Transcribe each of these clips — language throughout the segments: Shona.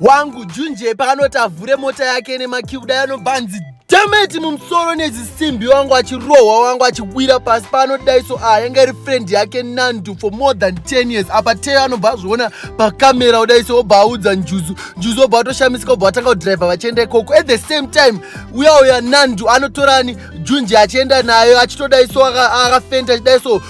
wangu junje paanoti avhure mota yake nemakii kudai anobva anzi dameti mumusoro nezisimbi wangu achirohwa wangu achiwira pasi paanodai so a ah, yanga iri friend yake nandu for more than 10 years apa teyo anobva azviona pakamera kudai so obva audza njuzu njuzu obva atoshamisika obva atanga kudhiraivha vachienda ikoko at the same time uya uya nandu anotorani junje achienda nayo achitodai so akafenda achidai so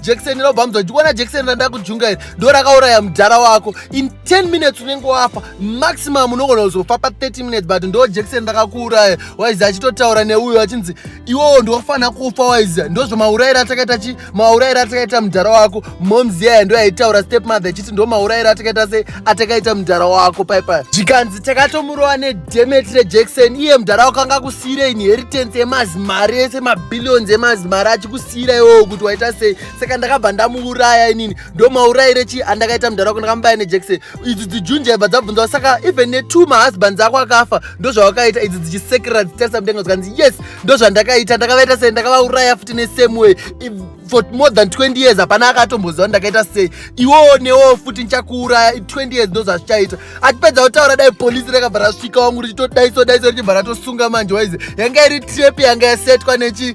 jekiseni inobva mudza ndikuona jekiseni randakujunga iri ndo rakauraya mudhara wako in 10 minutes unenge wafa maximum unogona kuzofa pa 30 minutes but ndo jekiseni rakakuuraya waizi achitotaura neuyo achinzi iwowo ndiwafanira kufa waizi ndozvamauraira atakaita chi mauraira atakaita mudhara wako moms yaya ndo yaitaura step mother ichiti ndo mauraira atakaita sei atakaita mudhara wako paipai zvikanzi takatomurova nedemeti rejekiseni iye mudhara wako anga kusiira inheritance yemazimari ese mabillions emazimari achikus ndakatomubatsira iwewo kuti waita sei saka ndakabva ndamuuraya inini ndomaurayire chii andakaita mudhara wako ndakamubaya nejekiseni idzi dzijunja ibva dzabvunzawo saka even netwo mahusbands ako akafa ndozvawakaita idzi dzichisekerera dzichitarisa mudenga zvikanzi yes ndozvandakaita ndakavaita sei ndakavauraya futi nesame way for more than 20 years hapana akatomboziva ndakaita sei iwowo newowo futi ndichakuuraya 20 years ndozvazvichaita atipedza kutaura dai polisi rakabva rasvika wangu richitodaiso daiso richibva ratosunga manje waize yanga iri trep yanga yasetwa nechi